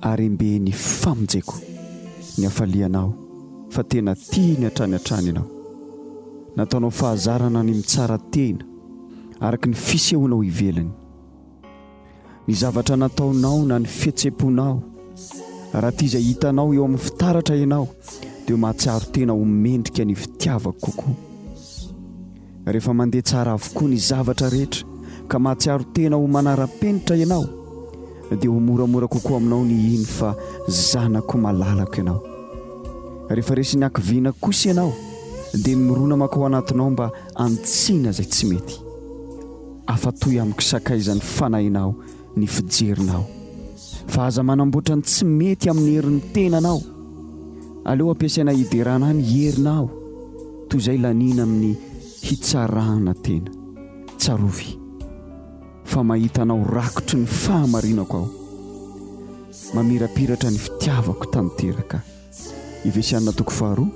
Harembe ny famonjeko, ny hafalianao, fa tena tiany hatrany hatrany ianao. Nataonao fahazarana ny mitsara tena, araka ny fisehonao ivelany. Ny zavatra nataonao na ny fihetsem-ponao, raha tia izay hitanao eo amin'ny fitaratra ianao, dia mahatsiaro tena ho mendrika ny fitiavako kokoa. Rehefa mandeha tsara avokoa ny zavatra rehetra ka mahatsiaro tena ho manara-penitra ianao, dia ho moramora kokoa aminao ny hino fa zanako malalako ianao. Rehefa resin'ny hakiviana kosa ianao, dia mirona mankao anatinao mba hanitsiana izay tsy mety. Afa-toy amiko sakaizan'ny fanahinao ny fijerinao fa aza manamboatra ny tsy mety amin'ny herin'ny tenanao aleo ampiasaina hiderana ny herinao toy izay laniana amin'ny hitsarana tena tsarovy fa mahitanao rakotry ny fahamarinako aho mamirapiratra ny fitiavako tanteraka ivesianina toko faharoa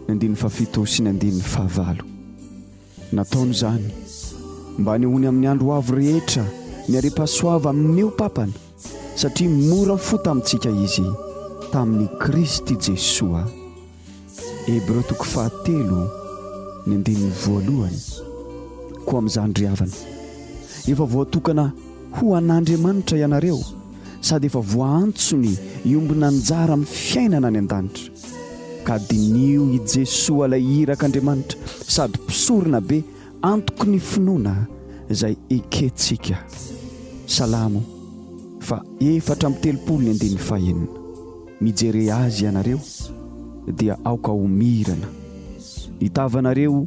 ny andin'ny fafito sy ny andin'ny fahavalo Nataony izany mba hanehoany amin'ny andro ho avy rehetra ny harem-pahasoava amin'io Papany, satria mora fo tamintsika izy tamin'i Kristy Jesoa. Hebreo toko fahatelo, ny andininy voalohany. Koa amin'izany ry havana, efa voatokana ho an'Andriamanitra ianareo, sady efa voaantsony hiombon'anjara amin'ny fiainana any an-danitra. Ka diniho i Jesoa ilay Irak' Andriamanitra sady Mpisorona be antoky ny finoana izay ekentsika. Salamo fa efatra amby telopolo ny andininy fahenina. Mijere Azy ianareo dia aoka ho mirana. Ny tavanareo